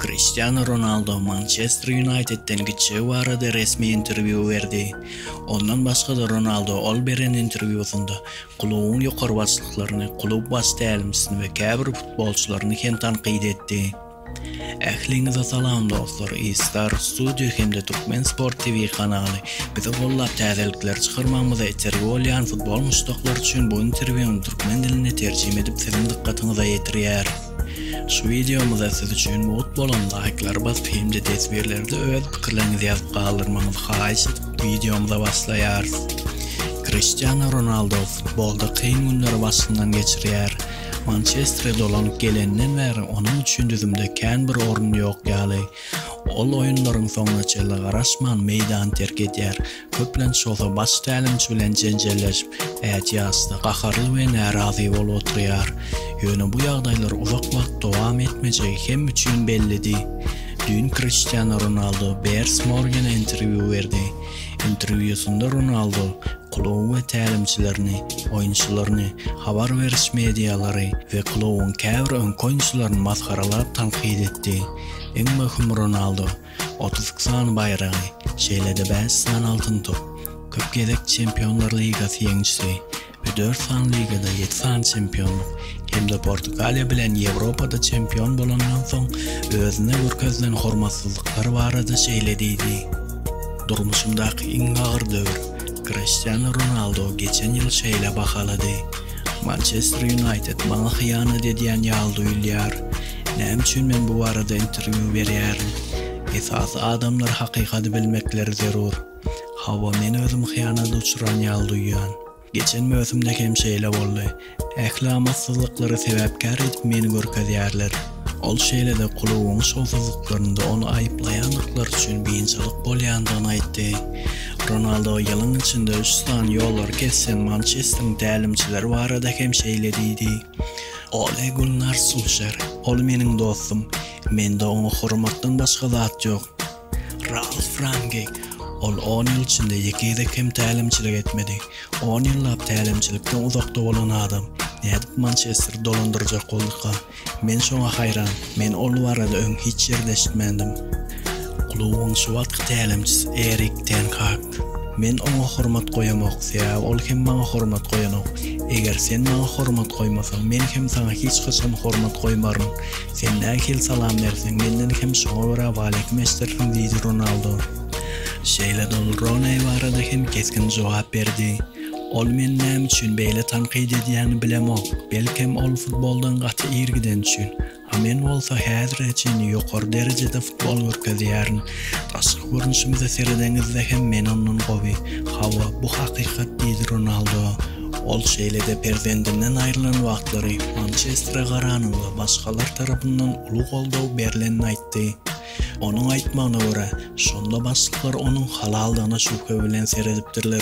Kriştianu Ronaldo Mançester Ýunaýtedden gitjegi barada resmi interwýu berdi. Ondan başga-da Ronaldo ol beren interwýusynda klubuň ýokary başlyklaryny, klub baş tälimçisini we käbir futbolçylaryny hem tankyt etdi. Ähliňize salam dostlar, E-Star Studio hem-de Türkmen Sport TV kanaly bizi gollap täzelikler çykarmagymyza itergi bolýan futbol muşdaklary üçin bu interwýuny türkmen diline terjime edip siziň dykgatyňyza ýetirýär. Şu wideomyza siz üçin mugt bolan laýklary basyp hem-de teswirlerde öz pikirleriňizi ýazyp galdyrmagyňyzy haýyş edip wideomyza başlaýarys. Kriştiano Ronaldo futbolda kyn günleri başyndan geçirýär. Mançestere dolanyp geleninden bäri onuň üçin düzümde kän bir orun ýok ýaly. Ol oýunlaryň soňuna çenli garaşman meýdany terk edýär. Köplenç bolsa baş tälimçi bilen jenjelleşip, ätiýaçda gaharly we närazy bolup oturýar. Ýöne bu ýagdaýlar uzak wagt dowam etmejegi Hem üçin bellidi. Düýn Kriştianu Ronaldu Bears Morgene interwýu berdi. Interwýusynda Ronaldu kluby we tälimçilerini, oýunçylaryny, habar beriş medialary we klubyň käbir öňki oýunçylaryny masgaralap tankyt etdi. Iň möhüm Ronaldu otuz iki sany baýragy, şeýle-de bäş sany Altyn top, köp gezek Çempionlar ligasy ýeňişi we dört sany ligada ýedi sany çempionlyk hem-de Portugaliýa bilen Ýewropada çempion bolandan soň özüne görkezilen hormatsyzlyklary barada şeýle diýdi, Durmuşymdaky iň agyr döwür. Kriştianu Ronaldu geçen ýyl şeýle bahalady, Mançester Ýunaýted maňa hyýanat edýän ýaly duýulýar. Näme üçin men bu barada interwýu berýärin? Esasy adamlar hakykady bilmekleri zerur. Hawa men özüm hyýanat uçran ýaly duýýan. Geçen möwsümde hem şeýle boldy. Ähli amatsyzlyklary sebäpkär edip meni görkezýärler. Ol şeýle-de klubyň şowsuzlyklarynda ony aýyplaýandyklary üçin biynjalyk bolýandygyny aýtdy. Ronaldo ýylyň içinde üç sany ýollary kesýän Mançesteriň tälimçileri barada hem şeýle diýdi. Oly Gulnar Sulşer, ol meniň dostum, mende oňa hormatdan başga zat ýok. Ralf Rangnick, ol on ýyl içinde ýeke gezek hem tälimçilik etmedi. On ýyllap tälimçilikden uzakda bolan adam nädip Mançesteri dolandyrjak bolduka? Men şoňa haýran, men ol barada öň hiç ýerde eşitmändim. Klubuň şu wagtky tälimçisi Erik ten Hag. Men oňa hormat goýamok, sebäbi ol hem maňa hormat goýanok. Eger sen maňa hormat goýmasaň, men hem saňa hiç haçan hormat goýmaryn. Sen nähili salam berseň, menden hem şoňa görä waleýkim eşdersiň diýdi Ronaldo. Şeýle-de ol Rooney barada hem kesgin jogap berdi. Ol meni näme üçin beýle tankyt edýänini bilemok. Belkem, ol futboldan gaty ir gideni üçin. A men bolsa häzire çenli ýokary derejede futbol görkezýärin. Daşky görnüşimize seredeňizde hem men ondan gowy. Hawa, bu hakykat diýdi Ronaldo. Ol şeýle-de perzendinden aýrylan wagtlary Mançestere garanyňda başgalar tarapyndan uly goldaw berlenini aýtdy. Onuň aýtmagyna görä, şonda başlyklar onuň halaldygyna şübhe bilen seredipdirler.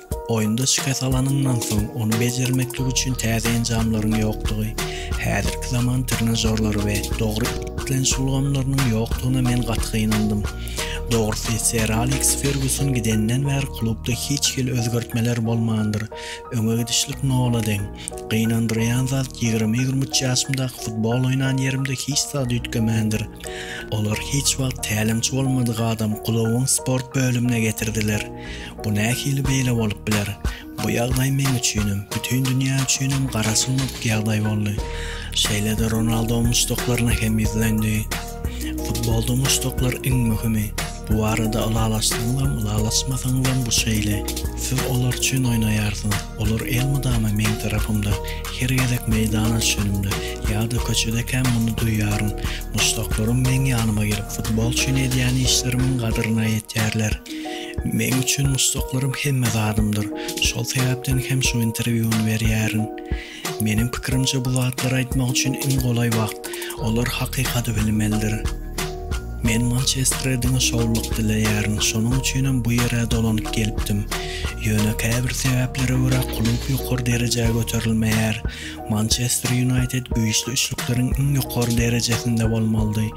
Oýunda şikes alanyňdan soň, ony bejermeklik üçin täze enjamlaryň ýokdugy, häzirki zaman trenažorlary we dogry islenç ulgamlarynyň ýokdugyna men gaty gynandym. Dogrusy, Ser Aleks Ferguson gidenden bäri klubda hiç hili özgertmeler bolmandyr. Öňe gidişlik nola deň. Gynandyrýan zat, ýigrimi-ýigrimi üç ýaşymdaky futbol oýnan ýerimde hiç zat üýtgemändir. Olar hiç wagt tälimçi bolmadyk adamy klubuň sport bölümine getirdiler. Bu nähili beýle bolup biler? Bu ýagdaý men üçinem, bütin dünýä üçinem gara sunmak ýagdaý boldy. Şeýle-de Ronaldo muşdaklaryna hem ýüzlendi. Futbolda muşdaklar iň möhümi. Bu barada ylalaşsaňyzam, ylalaşmasaňyzam bu şeýle. Siz olar üçin oýnaýarsyňyz. Olar elmydama meň tarapymda. Her gezek meýdana düşenimde, ýa-da köçedekäm muny duýýaryn. Muşdaklarym meň ýanyma gelip, futbol üçin edýän işlerimiň gadryna ýetýärler. Meň üçin muşdaklarym hemme zadymdyr. Şol sebäpden hem şu interwýuny berýärin. Meniň pikirimçe bu zatlary aýtmak üçin iň golaý wagt. Olar hakykaty bilmelidir. Men Mançestre diňe şowluk dileýärin. Şonuň üçinem bu ýere dolanyp gelipdim. Ýöne käbir sebäplere görä klub ýokary derejä göterilmeýär. Mançester Ýunaýted güýçli üçlükleriň iň ýokary derejesinde bolmalydy.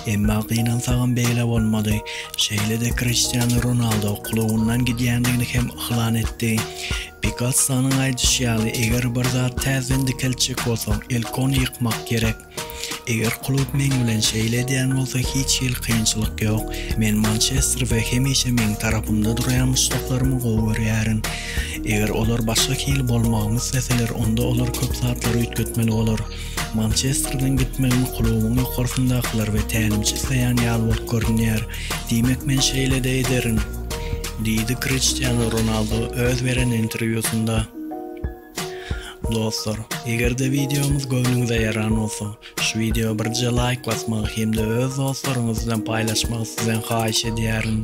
Emma gynansagam beýle bolmady. Şeýle-de Kriştianu Ronaldo klubyndan gidýändigini hem yglan etdi. Pikassonyň aýdyşy ýaly, eger bir zat täzeden dikeltjek bolsaň, ilk ony ýykmak gerek. Eger klub meň bilen şeýle edýän bolsa hiç hili kynçylyk ýok. Men Mançester we hemişe meň tarapymda durýan muşdaklarymy gowy görýärin. Eger olar başga hili bolmagymy isleseler onda olar köp zatlary üýtgetmeli bolar. Mançesterden gitmegimi klubuň ýokarsyndakylar we tälimçi isleýän ýaly bolup görünýär. Diýmek men şeýle-de ederin. Diýdi Kriştianu Ronaldu öz beren interwýusynda. Dostlar, eger-de wideomyz göwnüňize ýaran bolsa, şu wideoa birje laýk basmagy hem-de öz dostlaryňyz bilen paýlaşmagy sizden haýyş edýärin.